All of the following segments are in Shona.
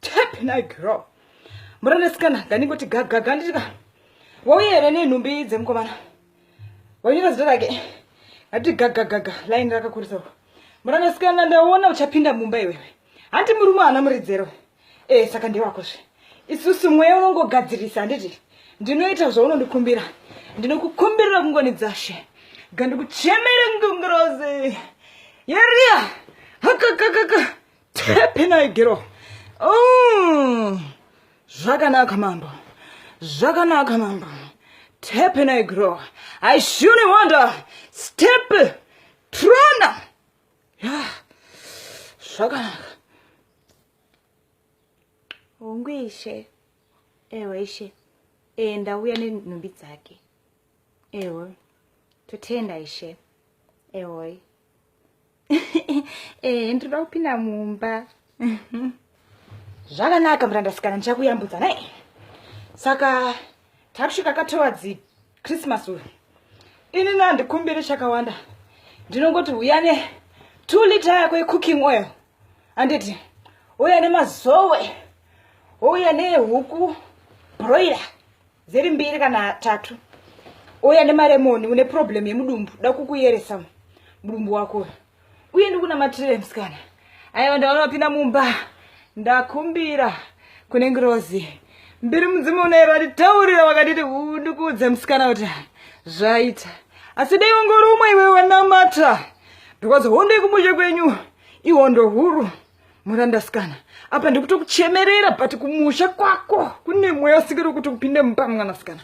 Tap na girl. Muranda sikana ndaningoti gaga gandika. Wauye here nenhumbi dzemukomana. Wanyora zita rake. Ngati gaga gaga line rakakurisa. Muranda sikana ndaona uchapinda mumba iwewe. Hanti murume ana muridzero. Eh saka ndewako zve. Isusu mweya unongogadzirisa handiti? Ndinoita zvaunondikumbira. Ndinokukumbirira kungonidzashe. Gandikuchemere ngungurozi. Yeria. Hakakakaka. tepenai gero mm. zvakanaka mambo zvakanaka mambo tepenai gero i surely wonder step trona yeah. zvakanaka hongu ishe ewe ishe e, ndauya nenhumbi dzake ewe totenda ishe ewe eh ndinoda kupinda mumba zvakanaka murandasikana ndichakuyambudza naye saka takusvika ka towards christmas uyu ini nandikumbire chakawanda ndinongoti uya ne two liter yako yecooking oil handiti uya nemazowe uya nehuku broiler dziri mbiri kana tatu uya nemaremoni une problem yemudumbu da kukuyeresa mudumbu wako uye ndikunamatire musikana aiwa ndaona wapinda mumba ndakumbira kune ngirozi mbiri mudzimu unaero atitaurira wakatiti ndikuudze musikana kuti zvaita asi dai wangori umwe iwe wanamata because hondo yekumushe kwenyu ihondo huru murandasikana apa ndikutokuchemerera but kumusha kwako kune mweya usikiri kuti upinde mupa mwanasikana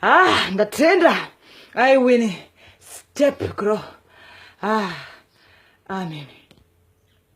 ah ndatenda i win step grow ah amen